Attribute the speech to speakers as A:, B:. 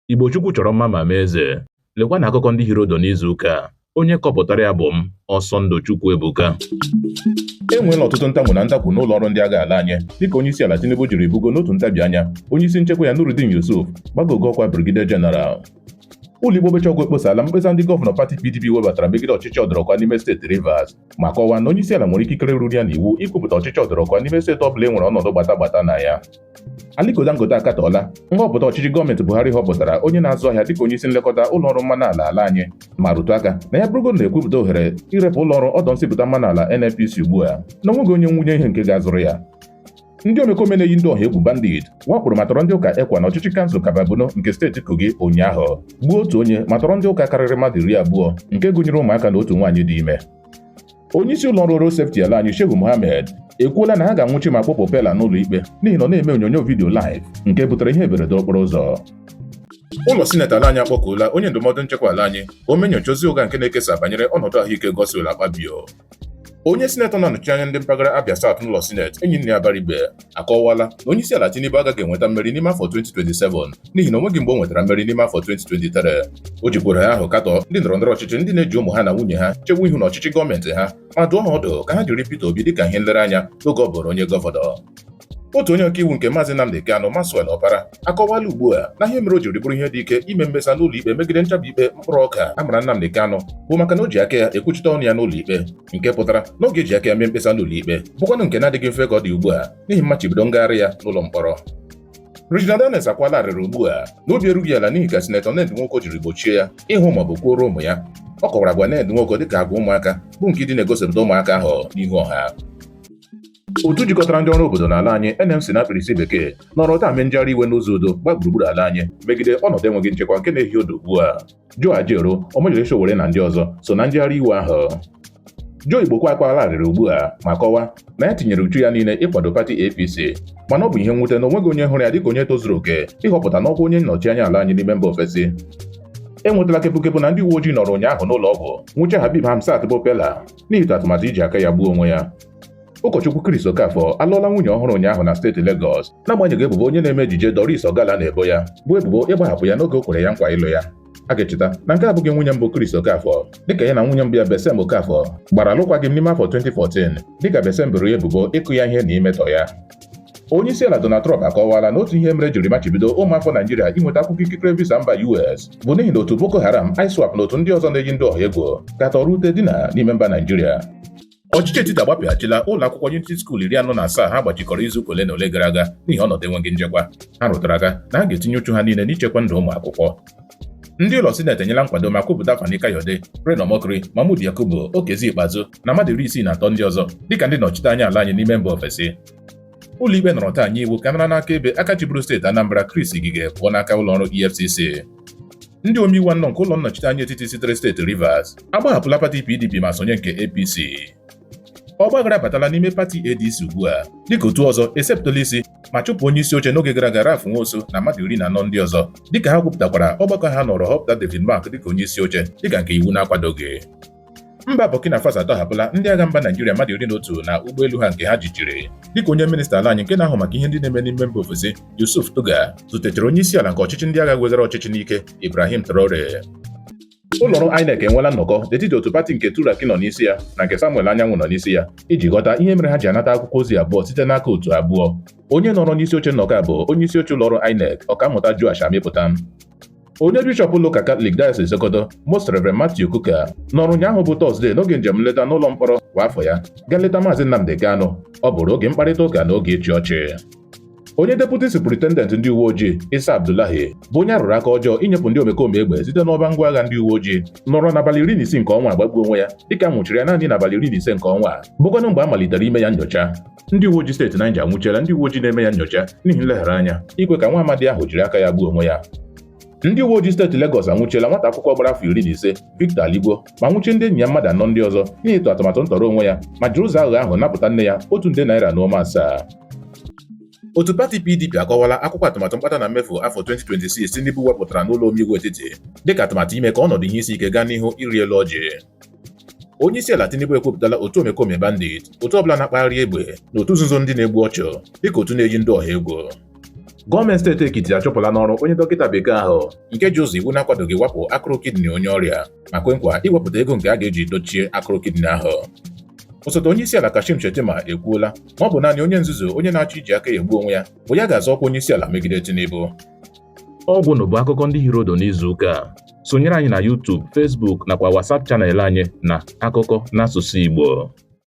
A: Igbo Chukwu chọrọ mma ma mee eze. Lekwa na akụkọ ndị hiri odo n'izu ụka a. Onye kọpụtara ya bụ m, Ọsọndụ Chukwu Ebuka. E nweela ọtụtụ ntamu na ntakwu n'ụlọ ọrụ ndị agha ala anyị dịka onye isi ala Tinubu jiri bugo n'otu ntabi anya onye isi nchekwa ya Nurudeen Yusuf gbago ogo ọkwa Brigadier General ụlọ ikpe okpecha ọgwụ ekposala mkpesa ndị gọvanọ pati PDP webatara megide ọchịchị ọdọrọkwa n'ime steeti Rivers ma kọwaa na onye isi ala nwere ikikere ruru ya n'iwu ikwupụta ọchịchị ọdọrọkwa n'ime steeti ọ bụla e nwere ọnọdụ gbata gbata na ya Aliko Dangote akatọọla nhọpụta ọchịchị gọọmenti Buhari họpụtara onye na-azụ ahịa dịka onye isi nlekọta ụlọ ọrụ mmanụ ala ala anyị ma rụtụ aka na ya bụrụgodu na e kwupụta ohere irepụ ụlọ ọrụ ọdọ nsipụta mmanụ ala NNPC ugbu a na onweghị onye nwunye ihe nke ga-azụrụ ya ndị omekome na-eyi ndị ọha egwu bandit wakporo ma tọrọ ndị ụka ECWA na ọchịchị kansụl Kabba Bunu nke steeti Kogi ụnyaahụ gbuo otu onye ma tọrọ ndị ụka karịrị mmadụ iri abụọ nke gụnyere ụmụaka na otu nwaanyị dị ime onye isi ụlọ ọrụ road safety ala anyị Shehu Mohammed ekwuola na ha ga-anwụchi ma kpọpụ Peller n'ụlọ ikpe n'ihi na ọ na-eme onyonyo vidiyo live nke butere ihe mberede okporo ụzọ ụlọ sineti ala anyị akpọkuola onye ndụmọdụ nchekwa ala anyị ka o mee nyocha ozi ụgha nke na-ekesa banyere ọnọdụ ahụike Godswill Akpabio onye sinetọ na-anọchi anya ndị mpaghara Abia South n'ụlọ sineti Enyinnaya Abaribe akọwala na onye isi ala Tinubu agaghị enweta mmeri n'ime afọ 2027 n'ihi na onweghị mgbe o nwetara mmeri n'ime afọ 2023 o jikwara ohere ahụ katọ ndị ndọrọ ndọrọ ọchịchị ndị na-eji ụmụ ha na nwunye ha chewe ihu n'ọchịchị gọọmenti ha ma dụọ ha ọdụ ka ha jiri Peter Obi dịka ihe nlereanya n'oge ọ bụrụ onye gọvanọ otu onye ọkaiwu nke maazị Nnamdi Kanu Maxwell Opara akọwala ugbu a na ihe mere o jiri bụrụ ihe dị ike ime mkpesa n'ụlọ ikpe megide nchabi ikpe mkpụrụ ọka a mara Nnamdi Kanu bụ maka na o ji aka ya ekwuchite ọnụ ya n'ụlọ ikpe nke pụtara na ọ ga-eji aka ya mee mkpesa n'ụlọ ikpe bụkwanụ nke na-adịghị mfe ka ọ dị ugbu a n'ihi mmachibido ngagharị ya n'ụlọ mkpọrọ Regina Daniels akwaala arịrị ugbu a n'obi erughị ala n'ihi ka sinetọ Ned Nwoko jiri gbochie ya ịhụ ma ọ bụ kwuoro ụmụ ya ọ kọwara agwa Ned Nwoko dịka agwa ụmụaka bụ nke ịdị na-egosipụta ụmụaka ahụ n'ihu ọha otu jikọtara ndị ọrụ obodo n'ala anyị NLC na mkpirisi bekee nọrọ taa mee njegharị iwe n'ụzọ udo gba gburugburu ala anyị megide ọnọdụ enweghị nchekwa nke na-ehi odo ugbu a Joe Ajaero Omoyele Sowore na ndị ọzọ so na njegharị iwe ahụ Joe Igbokwe akwaala arịrị ugbu a ma kọwaa na ya tinyere uchu ya niile ịkwado pati APC mana ọ bụ ihe mwute na onweghị onye hụrụ ya dịka onye tozuru oke ịhọpụta n'ọkwa onye nnọchi anya ala anyị n'ime mba ofesi enwetala kepukepu na ndị uwe ojii nọrọ ụnyaahụ n'ụlọ ọgwụ nwụchie Habeeb Hamzat bụ Peller n'ihi atụmatụ iji aka ya gbuo onwe ya Ụkọchukwu Chris Okafọ alụọla nwunye ọhụrụ ụnyaahụ na steeti Legọs n'agbanyeghị ebubo onye na-eme ejije Doris Ogala na-ebo ya bụ ebubo ịgbahapụ ya n'oge o kwere ya nkwa ịlụ ya a ga-echeta na nke a abụghị nwunye mbụ Chris Okafọ dịka ya na nwunye mbụ ya Bessem Okafọ gbara alụkwaghịm n'ime afọ 2014 dịka Bessem boro ya ebubo ịkụ ya ihe na imetọ ya onye isi ala Donald Trump akọwala na otu ihe mere e jiri machibido ụmụafọ Naijiria inweta akwụkwọ ikikere visa mba US bụ n'ihi na otu Boko Haram, ISWAP na otu ndị ọzọ na-eyi ndị ọha egwu ka tọrọ ute dina n'ime mba Naijiria Ọchịchị etiti agbapeghachila ụlọ akwụkwọ Unity School iri anọ na asaa ha gbachikọrọ izu ụka ole na ole gara aga n'ihi ọnọdụ enweghị nchekwa. Ha rụtara aka na ha ga-etinye uchu ha niile n'ichekwa ndụ ụmụ akwụkwọ. Ndị ụlọ sineti enyela nkwado ma kwupụta Fani Kayode, Reno Omokri, Mahmood Yakubu, Okezie Ikpeazụ na mmadụ iri isii na atọ ndị ọzọ dịka ndị nnọchite anya ala anyị n'ime mba ofesi. Ụlọikpe nọrọ taa nye iwu ka a nara n'aka ebe aka chịburu steeti Anambra Chris Ngige pụọ n'aka ụlọọrụ EFCC. Ndị omeiwu anọ nke ụlọ nnọchiteanya etiti sitere steeti Rivers agbahapụla pati PDP ma sonye nke APC. Ọgbaghara abatala n'ime pati ADC ugbu a dịka otu ọzọ esepụtala isi ma chụpụ onye isi oche n'oge gara aga Ralph Nwosu na mmadụ iri na anọ ndị ọzọ dịka ha kwupụtakwara ọgbakọ ha nọrọ họpụta David Mark dịka onye isi oche dịka nke iwu na-akwadoghị. Mba Burkina Faso atọhapụla ndị agha mba Naijiria mmadụ iri na otu na ụgbọelu ha nke ha jichiri dịka onye minista ala anyị nke na-ahụ maka ihe ndị na-eme n'ime mba ofesi Yusuf Tuggar zutechara onye isi ala nke ọchịchị ndị agha weghara ọchịchị n'ike Ibrahim Traore ụlọọrụ INEC enweela nnọkọ n'etiti otu pati nke Turaki nọ n'isi ya na nke Samuel Anyanwụ nọ n'isi ya iji ghọta ihe mere ha ji anata akwụkwọ ozi abụọ site n'aka otu abụọ onye nọrọ n'isi oche nnọkọ a bụ onye isi oche ụlọọrụ INEC ọkammụta Joash Amupitan Onye bishọp ụlọụka Katọlik Diocese Sokoto, Most Rev. Matthew Kukah, nọrọ ụnyaahụ bụ Tọzdee n'oge njem nleta n'ụlọ mkpọrọ kwa afọ ya gaa nleta Maazị Nnamdi Kanu. Ọ bụrụ oge mkparịta ụka na oge ịchị ọchị. Onye deputi superintendent ndị uwe ojii Isa Abdullahi bụ onye a rụrụ aka ọjọọ inyepụ ndị omekome egbe site n'ọba ngwa agha ndị uwe ojii nọrọ n'abalị iri na isii nke ọnwa a gbagbuo onwe ya dịka a nwụchiri ya naanị n'abalị iri na ise nke ọnwa a bụkwanụ mgbe a malitere ime ya nyocha ndị uwe ojii steeti Naịja anwụchiela ndị uwe ojii na-eme ya nyocha n'ihi nleghara anya ikwe ka nwa amadi ahụ jiri aka ya gbuo onwe ya ndị uwe ojii steeti Legọs anwụchiela nwata akwụkwọ gbara afọ iri na ise Victor Aligbo ma nwụchie ndị enyi ya mmadụ anọ ndị ọzọ n'ihi ịtụ atụmatụ ntọrọ onwe ya ma jiri ụzọ aghụghọ ahụ napụta nne ya otu nde naira na ụma asaa otu pati PDP akọwala akwụkwọ atụmatụ mkpata na mmefu afọ 2026 Tinubu wepụtara n'ụlọ omeiwu etiti dịka atụmatụ ime ka ọnọdụ ihe isi ike gaa n'ihu ịrị elu ọjị onye isi ala Tinubu ekwupụtala otu omekome bandit otu ọbụla na-akpagharị egbe na otu nzuzo ndị na-egbu ọchụ dịka otu na-eyi ndụ ọha egwu gọọmenti steeti Ekiti achụpụla n'ọrụ onye dọkịta bekee ahụ nke ji ụzọ iwu na-akwadoghị wapụ akụrụ kidney onye ọrịa ma kwe nkwa iwepụta ego nke a ga-eji dochie akụrụ kidney ahụ osote onye isi ala Kashim Shettima ekwuola ma ọ bụ naanị onye nzuzu onye na-achọ iji aka ya egbu onwe ya bụ ya ga-azọ ọkwa onye isi ala megide Tinubu ọgwụ bụ akụkọ ndị hiri ụdụ n'izu ụka sonyere anyị na YouTube, Facebook nakwa WhatsApp chanel anyị na akụkọ n'asụsụ Igbo